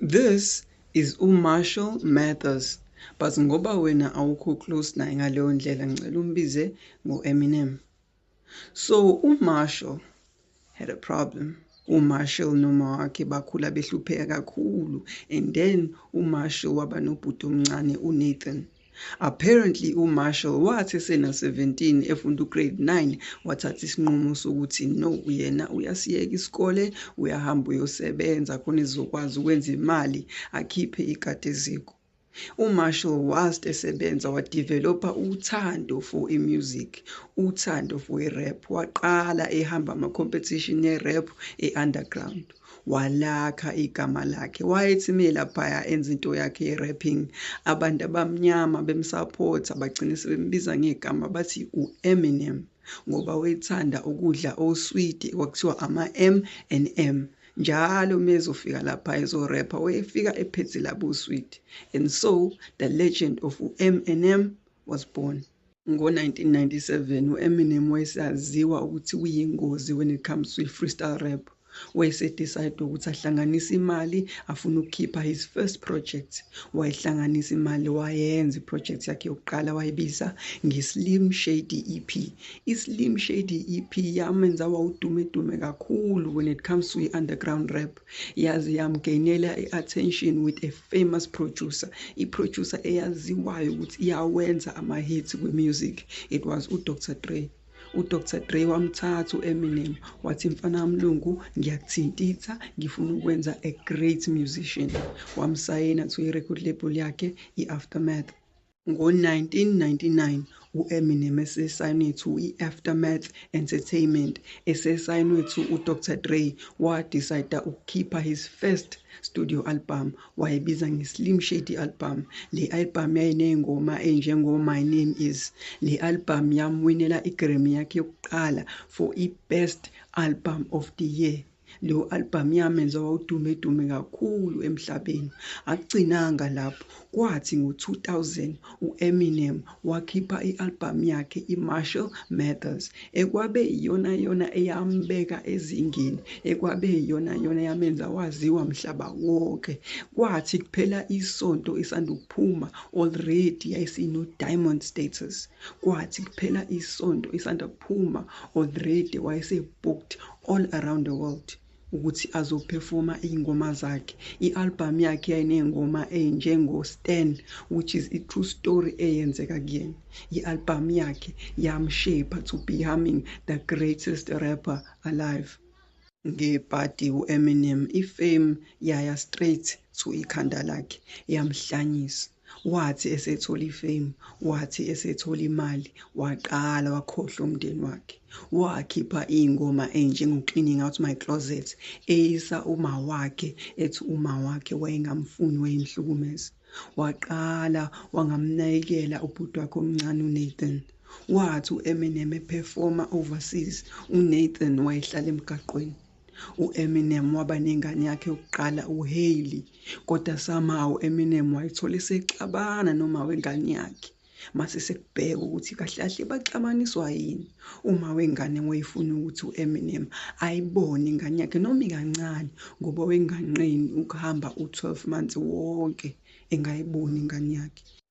This is u Marshall Mathers but ngoba wena awukho close naye ngaleyo ndlela ngicela umbize ngo Eminem. So u Marshall had a problem. uMarshall noma wakhe bakhula behlupheka kakhulu and then uMarshall waba nobhuti omncane uNathan Apparently uMarshall wathi esena 17 efunda ugrade 9 wathatha isinqumo sokuthi no yena uyasiyeka isikole uyahamba uyosebenza khona ezokwazi ukwenza imali akhiphe ikati eziko. UMarshall whilst esebenza wadevelopha uthando for imusic, uthando for irap. Waqala ehamba ama-competition yerap e-underground. walakha igama lakhe wayethi me laphaya enza into yakhe ye-rapping abantu abamnyama bemsaphotha bagcine sebembiza ngegama bathi u-eminem ngoba wayethanda ukudla oswidi kwakuthiwa ama-m and m njalo uma ezofika lapha ezorepha wayefika ephethe labo swidi and so the legend of u-m and m was born Ngo-1997, u-Eminem wayesaziwa ukuthi uyingozi when it comes to i-freestyle rap. Wayesedecide ukuthi ahlanganise imali afuna ukukhipha his first project. Wayihlanganisa imali wayenza iproject yakhe yokuqala wayibiza nge-Slim Shady EP. I-Slim Shady EP yamenza wawudumedume kakhulu when it comes to i-underground rap. yaze yamgainela i-attention with a famous producer i-producer eyaziwayo ukuthi iyawenza ama-hits kwi-music it was udr dre udr dre wamthatha u-eminem wathi mfana wamlungu ngiyakuthintitha ngifuna ukwenza a great musician wamsayina to i-record label yakhe i-aftermath Ngo-1999, u-Eminem esesayinwe to i-Aftermath Entertainment, esesayinwe to uDr Dre, wadicida ukukhipha his first studio album, wayibiza nge-Slim Shady Album. Le album yayinezingoma ezinjengo My Name Is. Le album yamwinela i-Grammy yakhe yokuqala for i-Best Album of the Year. Leyo albhamu yamenza wawudumedume kakhulu emhlabeni. Akugcinanga lapho, kwathi ngo-2000 u-Eminem wakhipha i-albhamu yakhe iMarshall Mathers, ekwabe iyonayona eyambeka ezingeni, ekwabe iyonayona eyamenza waziwa mhlaba wonke. Kwathi kuphela isonto isanda kuphuma, already yayisino-diamond status. Kwathi kuphela isonto isanda kuphuma, already wayese-booked all around the world ukuthi azophefoma iy'ngoma zakhe i-albhamu yakhe yayiney'ngoma ey'njengo-stan which is i-true story eyenzeka kuyena i-albhamu yakhe yamshepha to becoming the greatest rapper alive ngebhadi u-eminem ifame yaya straight to ikhanda lakhe yamhlanyisa Wathi esethola ifame, wathi esethola imali, waqala wakhohlwa umndeni wakhe. Wakhipha iy'ngoma ey'njengo-Cleaning Out My Closet, eyisa umawakhe, ethi umawakhe wayengamfuni, wayemhlukumeza. Waqala wangamnakekela ubhuti wakhe omncane uNathan. Wathi u-Eminem ephefoma overseas, uNathan wayehlala emgaqweni. U-Eminem waba nengane yakhe yokuqala uHailey, kodwa somehow u-Eminem wayithola esexabana noma wengane yakhe. Mase sekubheka ukuthi kahle kahle baxabaniswa yini. Uma wengane wayefuna ukuthi u-Eminem ayibone ingane yakhe noma ikancane ngoba wenganqeni ukuhamba u-12 months wonke engayiboni ingane yakhe.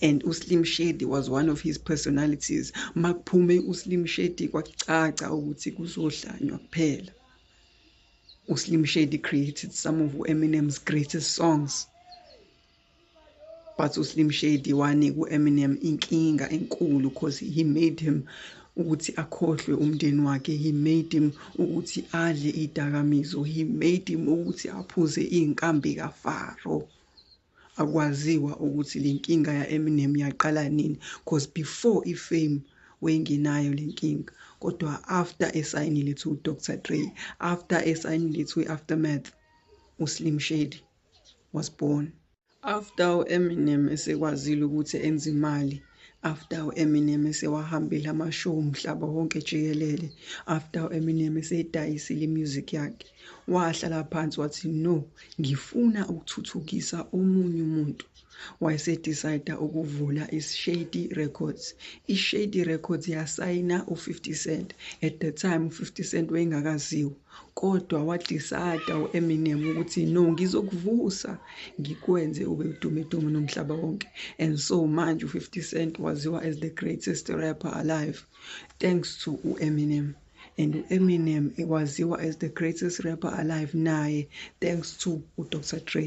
and uslim shady was one of his personalities makuphume uslim shady kwacaca ukuthi kuzohlanywa kuphela uslim shady created some of eminem's greatest songs but uslim shady wanika u-eminem inkinga enkulu because he made him ukuthi akhohlwe umndeni wakhe he made him ukuthi adle idakamizo he made him ukuthi aphuze iy'nkambi kafaro Akwaziwa ukuthi lenkinga ya Eminem yaqala nini cause before i fame wayingenayo lenkinga kodwa after esayinile to Doctor Dre after esayinile to Aftermath u Slim Shady was born. After u Eminem esekwazile ukuthi enze imali after u-Eminem esewahambile amashow umhlaba wonke jikelele after u-Eminem eseyidayisile imusic yakhe wahlala phansi wathi no ngifuna ukuthuthukisa omunye umuntu wayesedecide ukuvula ishady records ishady records yasayina u-50 cent at the time u-50 cent wayengakaziwa Kodwa wadisada u-Eminem ukuthi no ngizokuvusa ngikwenze ube udumedume nomhlaba wonke and so manje u-50 Cent waziwa as the greatest rapper alive thanks to u-Eminem and u-Eminem waziwa as the greatest rapper alive naye thanks to u-Dr Dre.